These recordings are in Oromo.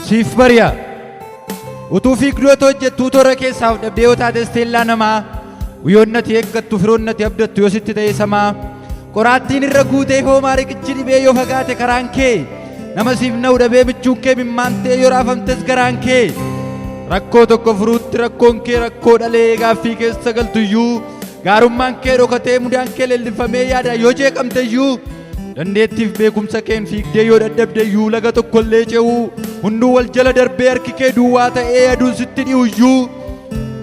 Siif bari'a. Utuu fiigduu otoo hojjettuu toora keessaaf dhabdee yoo taate isteellaa namaa Guyyoonni ati eeggattu firoonni ati abdattu yoo sitti ta'e samaa qoraattiin irra guutee hoomaa riqichi dhibee yoo fagaate karaan kee nama siif na'u dhabee michuun kee mimmaantee yoo raafamtes garaan kee rakkoo tokko furuutti rakkoon kee rakkoo dhalee gaaffii keessa galtuyyuu gaarummaan kee dhokatee mudaan kee leellifamee yaada yoo jeeqamteyyuu Dandeettiif beekumsa keen fiigdee yoo dadhabde iyyuu laga tokko illee ce'uu hunduu wal jala darbee harki kee duwwaa ta'ee aduun sitti dhi'u iyyuu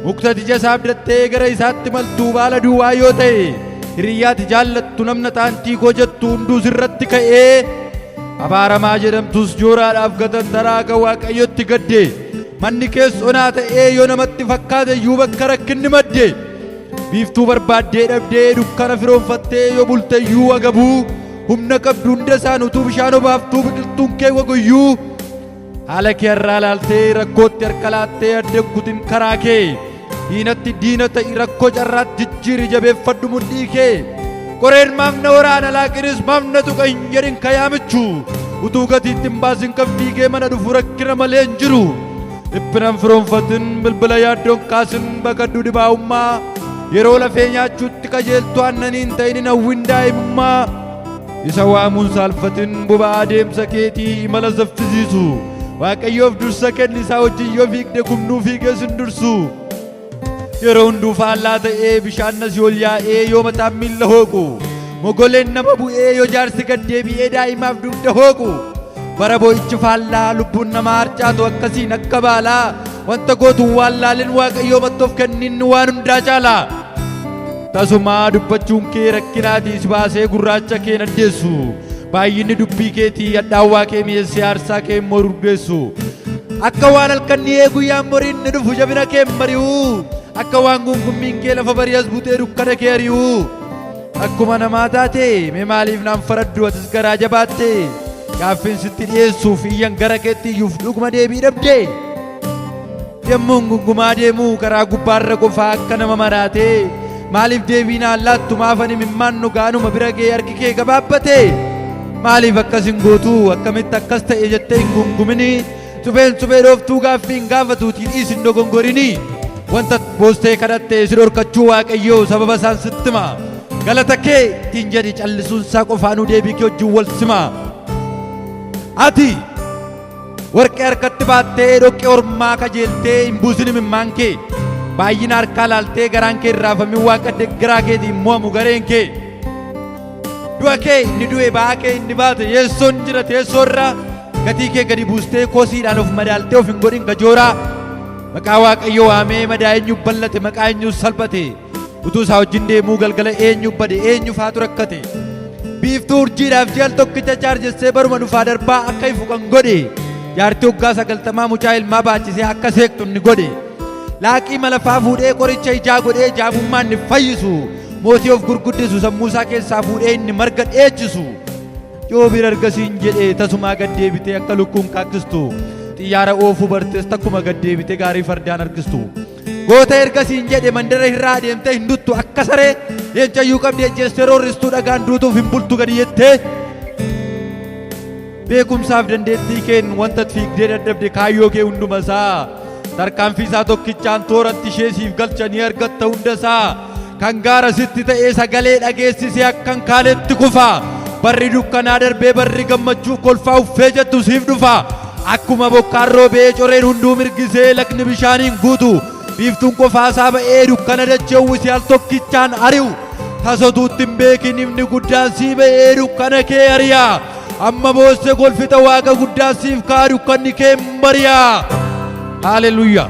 mukta ija isaa abdattee gara isaatti maltuu baala duwwaa yoo ta'e hiriyyaati jaallattu namna taantii koo jettu hunduu sirratti ka'ee abaaramaa jedhamtus jooraadhaaf gatantaraa akka waaqayyotti gadde manni kees onaa ta'ee yoo namatti fakkaate iyyuu bakka rakkinni madde. Biiftuu barbaaddee dhabdee dukkana firoonfattee yoo bulteyyuu wagabuu humna qabdu hunda isaan utuu bishaan obaaftuu biqiltuun kee wagoyyuu haala kee irraa laaltee rakkootti harka laattee adda kutin karaa kee diinatti diina ta'i rakkoo carraatti jijjiiri jabeeffadhu mudhii kee qoreen maaf na waraana laaqinis maaf na tuqa hin jedhin kayaamichu utuu gatiitti hin baasin kan fiigee mana dhufu rakkina malee hin jiru. Dhiphinan firoonfatin bilbila yaaddoon kaasin baqadhu dhibaa'ummaa yeroo lafee nyaachuutti qajeeltu aannaniin ta'inin hawwin daa'imummaa isa waamuun saalfatin boba'aa deemsa keetii imala saffisiisu waaqayyoof dursa kenni isaa wajjin yoo fiigde kumnuu fiigee sin dursu. Yeroo hunduu faallaa ta'ee bishaan nasii ol yaa'ee yoo mataan miilla hooqu mogoleen nama bu'ee yoo jaarsi gad deebi'ee daa'imaaf dugda hooqu bara boo'ichi faallaa lubbuun namaa harcaatu akkasiin akka baalaa wanta gootuun waan laalin waaqayyoo mattoof kenninni waan hundaa caalaa. Tasumaa dubbachuun kee rakkinaatii si baasee gurraacha kee hin addeessu. Baay'inni dubbii keetii hadhaawwaa kee mi'eessee aarsaa kee immoo urgeessu. Akka waan halkan dhi'ee guyyaan boriin ni dhufu jabina kee hin bari'u. Akka waan guungummiin kee lafa bari'as butee dukkana kee ari'u. Akkuma namaa taate mee maaliif naan faraddu atis garaa jabaatte. Gaaffiin sitti dhi'eessuuf iyyan gara keetti iyyuuf dhuguma deebii dhabdee. Yommuun gungumaa deemuu karaa gubbaarra qofaa akka nama maraatee maaliif deebiinaan laattu maafan imimmaan dhugaanuma bira ga'ee harki kee gabaabbate maaliif akkas hin gootu akkamitti akkas ta'e jettee hin gungumini supheen suphee dhooftuu gaaffii hin gaafatuutiin dhiis hin dogongorini wanta boostee kadhatte si dhorkachuu waaqayyoo sababa isaan sitti hima galata kee ittiin jedhi callisuun isaa qofaanuu deebii kee wajjin wal sima ati Warqee harkatti baattee dhoqqee ormaa kajeeltee hin buusin imimmaan kee baay'ina harkaa laaltee garaan kee irraafamin waaqa deggaraa keetiin mo'amu gareen kee du'a kee inni du'e ba'aa kee inni baate yeessoon jira teessoo irraa gatii kee gadi buustee kosiidhaan of madaaltee of hin godhin gajooraa maqaa waaqayyo waamee madaa eenyu ballate maqaa eenyu salphate Utuu isaa wajjin deemuu galgala eenyu bade eenyu faatu rakkate. Biiftuu urjiidhaaf ji'al tokkicha chaarjessee baruma dhufaa darbaa akka ifu kan godhe. Jaartii waggaa sagaltamaa mucaa ilmaa baachisee akka seektu inni godhe. Laaqii malafaa fuudhee qoricha ijaa godhee jaamummaa inni fayyisu. Mootii of gurguddisu sammuu isaa keessaa fuudhee inni marga dheechisu. Yoobiin argasiin jedhee tasumaa gad deebitee akka lukkuun kaakkistu. Xiyyaara oofuu bartees takkuma gad deebitee gaarii fardaan harkistu. Goota erga siin jedhe mandara irraa adeemtee hin duttu akka saree leencayyuu qabdi ejjeessee roorristuu dhagaan duutuuf hin bultu gadi jettee beekumsaaf dandeettii keen wanta fiigdee dadhabde kaayyoo kee hunduma isaa tarkaanfii isaa tokkichaan tooratti ishee siif galcha ni argatta hunda isaa Kan gaara sitti ta'ee sagalee dhageessise akkan kaaletti kufa. Barri dukkanaa darbee barri gammachuu kolfaa uffee jettu siif dhufa. Akkuma bokkaan roobee coreen hunduu mirgisee lagni bishaaniin guutu. Biiftuun qofaasaa ba'ee dukkana dachee uwwise al tokkichaan ari'u. Tasotuutti hin beekin ifni guddaan sii ba'ee dukkana kee ari'a. Amma boosse kolfita waaqa guddaan siif ka'a dukkanni kee hin bari'a. Haaleluyyaa.